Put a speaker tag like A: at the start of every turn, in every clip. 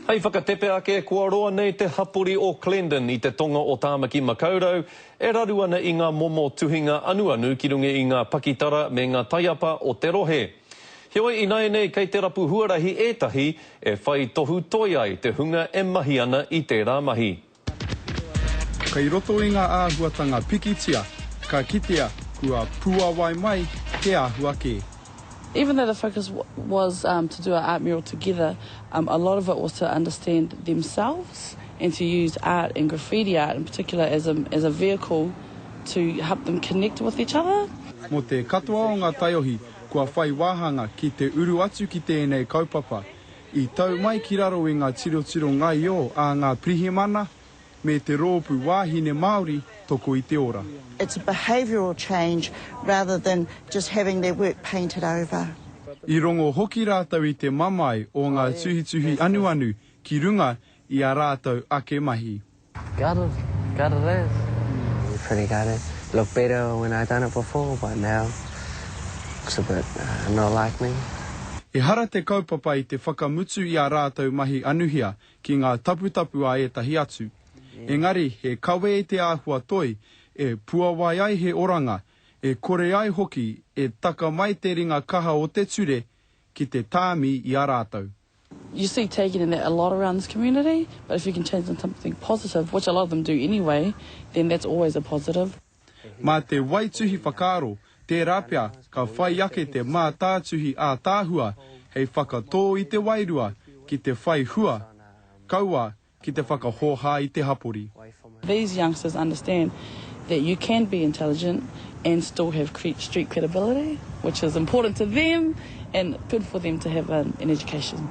A: Hei whakatepe ake, kua roa nei te hapori o Clendon i te tonga o Tāmaki Makaurau, e raru ana i ngā momo tuhinga anuanu ki runga i ngā pakitara me ngā taiapa o te rohe. Heoi, ināianei kei te rapu huarahi ētahi e whai tohu toi ai te hunga e mahi ana i tērā mahi.
B: Kei roto i ngā āhuatanga pikitia, ka kitea kua puawai mai te āhua kē. Even though the
C: focus was to do a art mural together, a lot of it was to understand themselves and to use art and graffiti art in particular as a as a vehicle to help them connect with each other. Mō te katoa
B: o ngā taiohi kua whai wāhanga ki te uru atu ki tēnei kaupapa, I tau mai ki raro i ngā tirotiro ngaio a ngā pirihimana me te rōpū wāhine Māori toko i te ora. It's a behavioural
D: change rather than just having their work painted over. I rongo
B: hoki rātou i te mamae o ngā tuhituhi anuanu ki runga i ā rātou ake mahi. Got it,
E: got it as. Pretty got it, looked better when I done it before but now looks a bit not like me. Ehara te
B: kaupapa i te whakamutu i ā rātou mahi anuhia ki ngā taputapu a ētahi atu. Engari he kawe te āhua toi e puawai ai he oranga, e kore ai hoki e taka mai te ringa kaha o te ture ki te tāmi i a rātou. You see
C: taking in that a lot around this community but if you can change into something positive, which a lot of them do anyway, then that's always a positive. Mā te
B: waituhi whakaaro, tērā pea ka whai ake te mātātuhi ātaahua hei whakatō i te wairua ki te whai hua. Kaua Ki te whakahōhā i te hapori. These youngsters
C: understand that you can be intelligent and still have street credibility which is important to them and good for them to have an education.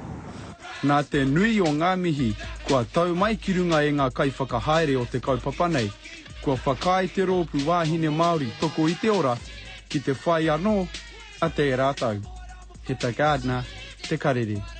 C: Nā te
B: nui o ngā mihi kua tau mai ki runga e ngā kaiwhakahaere o te kaupapa nei, kua whakaae te rōpū Wāhine Māori Toko i te Ora ki te whai anō ata e rātou. He tā Gardner te karere.